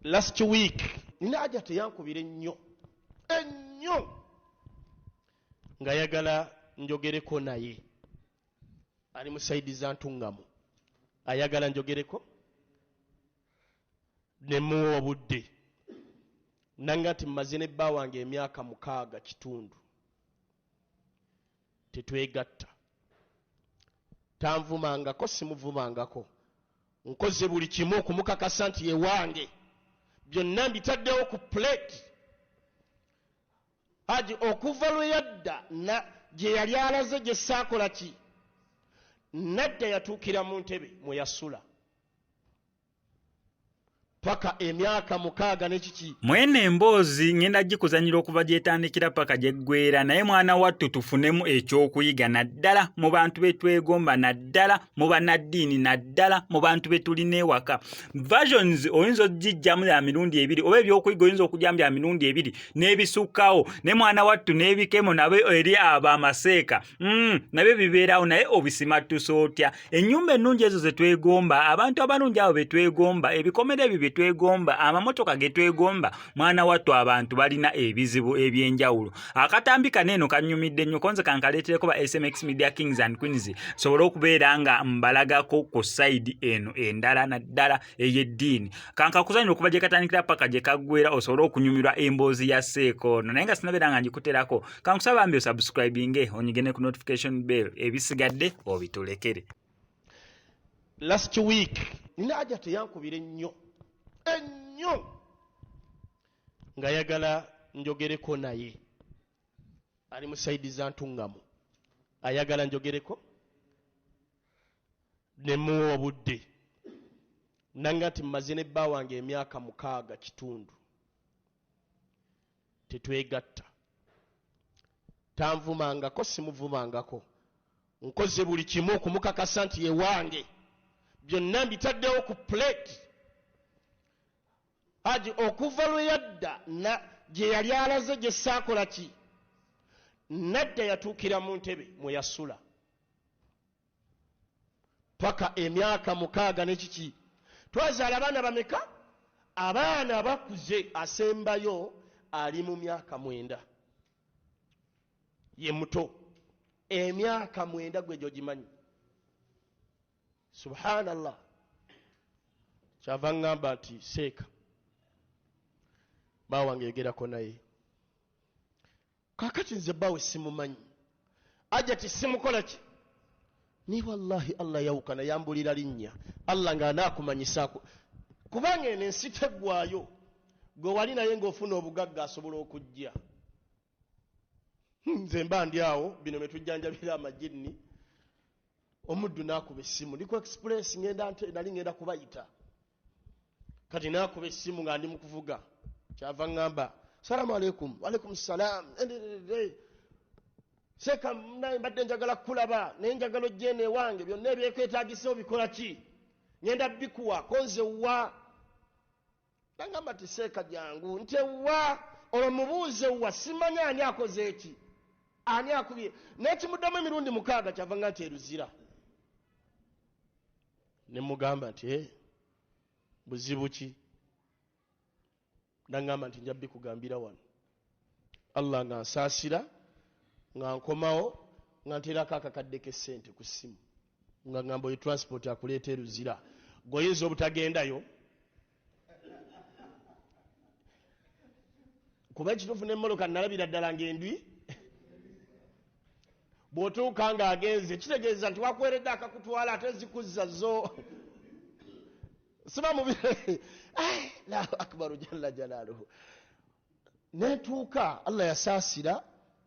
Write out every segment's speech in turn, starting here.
last week nina aja teyankubira ennyo ennyo nga yagala njogereko naye ali musaidiza ntungamu ayagala njogereko ne muwa obudde nange nti mmaze ne bba wange emyaka mukaaga kitundu tetwegatta tanvumangako simuvumangako nkoze buli kimu okumukakasa nti yewange byonna mbitaddewo ku plate aji okuva lwe yadda gye yali alaze gye saakola ki nadda yatuukira mu ntebe mwe yasula paka emyaka mukaaga nekiki mwene emboozi ngenda gikuzanyira okuva gyetandikira paka gyeggwera naye mwana wattu tufunemu ekyokuyiga naddala mu bantu betwegomba naddala mu banaddiini naddala mu bantu betulina ewaka versions oyinza okugijjamu ya mirundi ebiri oba ebyokuyiga oyinza okugyamu bya mirundi ebiri n'ebisukkawo ne mwana wattu n'ebikemo nabe eri abo amaseeka mm, nabyo bibeerawo naye obisimattuse otya ennyumba ennungi ezo ze twegomba abantu abalungi abo be twegomba ebikomera ebyo bye twegomba amamotoka ge twegomba mwana wattu abantu balina ebizibu eby'enjawulo akatambi kano eno kannyumidde nnyo konze kankaleetereko ba smx media kings and queens sobole okubeera nga mbalagako ku sayidi eno endala naddala ey'eddiini kankakuzanira okuva gye katandikira paka gye kaggwera osobole okunyumirwa emboozi ya seeko ono naye nga sinabeera nga ngikuterako kankusaba mbi osubscribinge onyige ne ku notification bell ebisigadde obitulekere last week nina aja teyankubira ennyo ennyo nga yagala njogereko naye ali mu saidi za ntuŋŋamu ayagala njogereko ne mmuwa obudde. Nnanga nti mmaze ne bba wange emyaka mukaaga kitundu tetwegatta. Tanvumangako, simuvumangako. Nkoze buli kimu okumukakasa nti ye wange. Byonna mbitaddewo ku puleeti. Haji okuva lwe yadda gye yali alaze gye saakola ki? Nadda yatuukira mu ntebe mwe yasula. paka emyaka mukaaga nekiki twazaala abaana bameka abaana abakuze asembayo ali mu myaka mwenda ye muto emyaka mwenda gwe gyogimanyi subhanallah kyava ŋŋamba nti seeka baawange yogerako naye Kakati nze bawe simumanyi. Ajati simukola ki? Ni wallahi Allah yawukana yambulira linnya. Allah nga anaakumanyisa aku. Kubanga eno ensi teggwayo. Gwe wali naye ng'ofuna obugagga asobola okujja. Hmm, nze mba ndi awo bino bye tujjanjabira amajinni. Omuddu n'akuba essimu. Ndi ku express ngenda nali ngenda kubayita. kati nakuba essimu nga ndi mukuvuga kyava ŋŋamba salaamu aleikum waleikum salaam seeka naye mbadde njagala kukulaba naye njagala ojjeeno ewange byonna ebyekwetagisewo bikola ki ŋenda bikuwa konze wa nagamba ti seeka jangu nti wa olwo mubuuze wa simanya ani akoze eki ani akubye nekimuddamu emirundi mukaaga kyava nga nti eruzira ne mugamba nti eh, buzibu ki nangamba nti nja bikugambira wano allah nga nsaasira nga nkomawo nga nteerako akakadde k'essente ku ssimu nga ngamba oyo transport akuleeta eruzira gweoyinza obutagendayo kuba ekituufu nemoloka nalabira ddala ngaendwi bwotuuka nga agenze kitegeeza nti wakweredde akakutwala ate zikuzza zo siba mubire lahu akbaru jalla jalaluhu netuuka allah yasaasira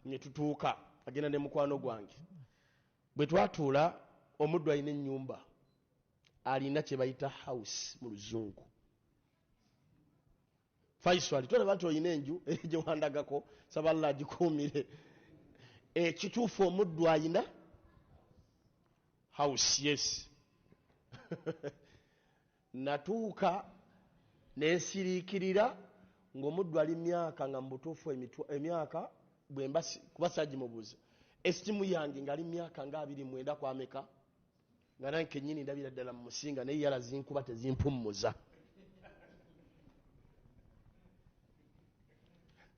netutuuka agenda ne mukwano gwange bwe twatuula omuddu alina ennyumba alina kyebayita house mu luzungu faisal tolaba nti olina enju gyewandagako saba allah agikuumire ekituufu omuddu alina house yes natuuka nensiriikirira ngaomuddu ali myaka nga mubutuufu emyaka bwemba kuba sagimubuuza estimu yange ngaali myaka nga abiri mwenda kwameka nga nange kenyini ndabira ddala mu musinga naye yala zinkuba tezimpummuza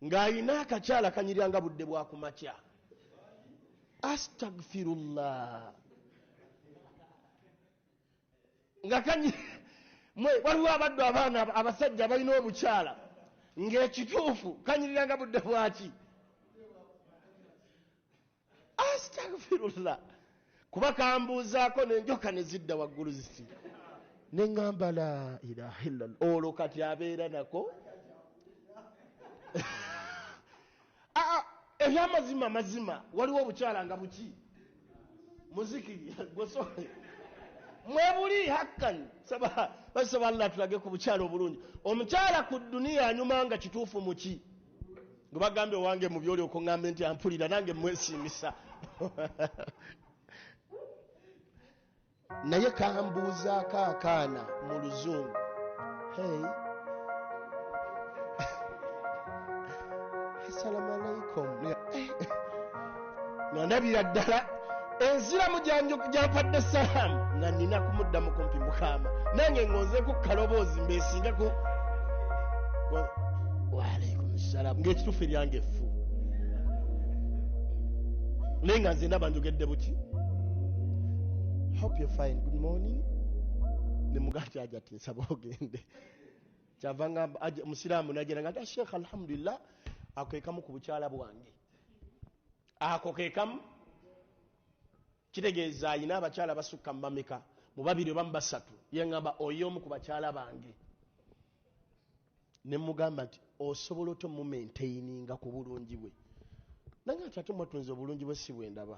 ng'alina akakyala kanyirira nga budde bwa ku makya astagfirullah nga kanyi mwe waliwo abaddu abaana abasajja abalina obukyala ng'ekituufu kanyirira nga budde bwaki Astagfirullah kuba kambuuzaako nenjoka nezidda waggulu ziti nengamba la ilaha illallah olwo kati abeera nako ah, ah, ebyamazima mazima waliwo obukyala nga buki muziki gwesole mwebuli hakkan saba basaba allah tulage ku bukyala obulungi omukyala ku duniya anyuma nga kituufu muki gwe bagambye owange mu byoli okuŋŋambe nti ampulira nange mwesiimisa naye kambuuzaako akaana mu luzungu hey. assalamu alaikum nga ndabira ddala enziramu gyampadde salaamu nga nina kumuddamu kumpi mukama nange ngonzeku kaloboozi mbesinga ku waalaikum salaamu ngaekituufu eryange effu naye nga nze ndaba njogedde buki hope you fine good morning nemugaati aja ati nsaba ogende kyavanga musiraamu najera nga ta sheekh alhamdulillah akwekamu ku bukyala bwange ako kekamu kitegeeza ayina abakyala basukka mumameka mubabiri obamu basatu yengamba oyo omu ku bakyala bange nemugamba nti osobola otya omumaintaininga ku bulungi bwe nange ati ate mwatunze obulungi bwe si bwendaba